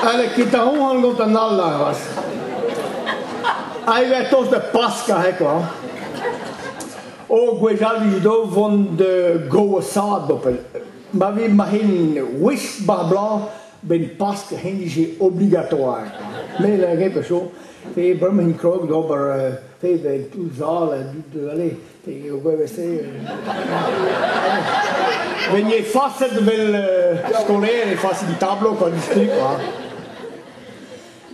Allez, quitte à on gant an all aras. Ail e tos de Pasca, he quoi. O gwejali do von de goasado. Ma vi mahin wish bar blanc ben Pask hen dije obligatoir. Me lâret pe so, te bremañ krog d'ober, te de tout sal, de aller, te o gwevese. Ben e faset vel skolaer e faset di tablo quand il stripe, ha.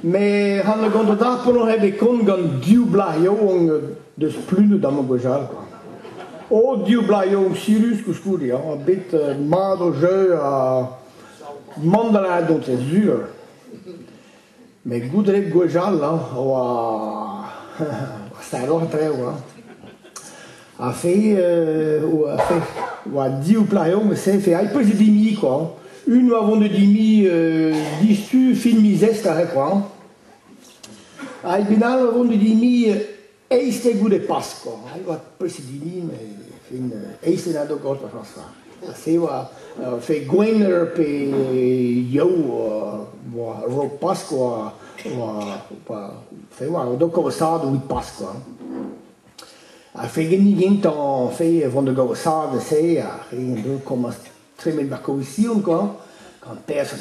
Mais han a gont da pono heb e kont gant div blaz yaouank deus plunet amañ gwechall, quoi. O div blaz yaouank sirus koulskoude, ha bet mat o jeu, ha Mont da lâret on ket sur, met goude gwechall hein, a oa stagelloc'h traoù hein. A fe euh, a fe oa div plareau met se fe ai peus dimi quoi hein. Une avant de dimi euh, disu fin miz Est ar re quoi hein. Ai benal a vont de dimi Eizh eo goude Pask oa, hein, oa peseurt hini, mais fin, eizh eo dad o gaout ar chañs fall. Se oa fe gwener pe yow oa rok Pask oa, oa, oa fe oa o do kaosaat evit Pask oa. Ha fe geni gentañ fe vont da gaosaat se, ha re do komañs tremen bakoision kwa, gant perzh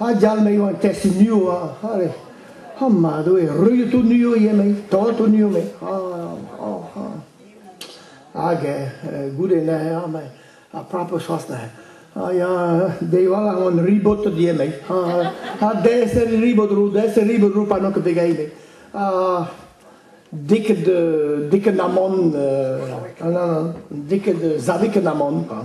Ha dial me eo an test niv, allez. Ha mad eo, ruilhet out niv ivez, me, torret out niv, me. Ah, ah, ah. Hag eh, goude neuze, me, ar prapr choas neuze. Ha ya, deiwal a on ribot die, me. Ha deser ribot rou, deser ribot rou panok de gai, me. Ha diket diket amon, non, non, diket zaviket amon, quoi.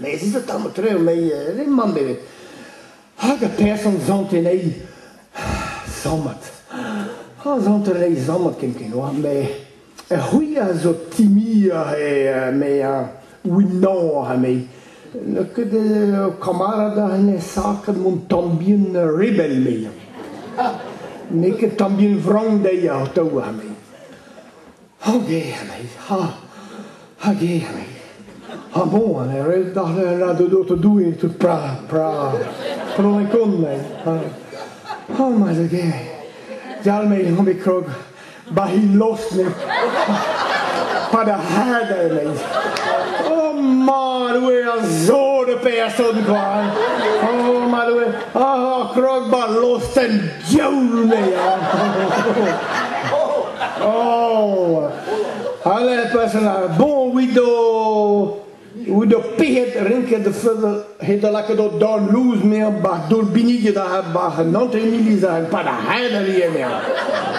Mes ez eo tamm tre anezhi re-mañ beved. Hag ar person sant anezhi. Sammad. Ha sant anezhi sammad ken ken oa, me... C'hwi a zo timiañ e me winañ anezhi. N'eo ket ur kamarad a hennezh ket mon tambien rebel me. N'eo ket tambien frank dezhi atav anezhi. Hag eo a-bezh, ha! Hag eo a-bezh. Ha bon, an erell darle a la de dote Doue, tout pra, pra, pronekonne. O, ma zege, dal me han be krog, bahi losne, pa da hada me. O, ma doe a zo de person kwa, o, ma doe, Ah, krogba lostenn diaoul Oh! Alle person ar bon wido wido pihet rinket de fudder het er lekker dat dan loes meer bach door binige daar heb bach een nant in milis en pa da heider hier meer.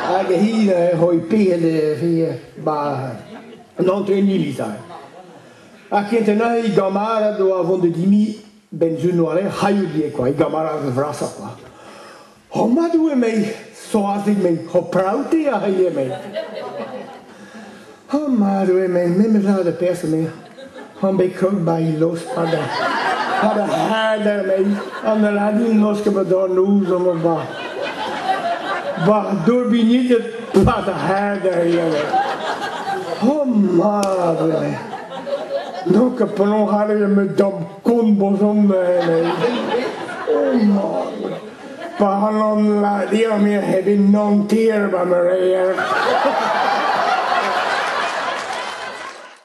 Hag hier hoi pihet hier bach een nant in milis en. A kent na i gamara do avon de dimi Benzion oalet, haillie quoi, e gamarad vrasa quoi. O madou emei, soazig mei, o praouti a hei emei. O madou emei, me mezad a perso me. An be krog ba i los hada. Hada hada mei, an aladin los ke ma dan ouz am o ba. War dorbinitet, pad a hada e emei. O madou emei. Look a penaos ale met da'm kont brezhonel oh man paran ladir-mir heb nantier va meureier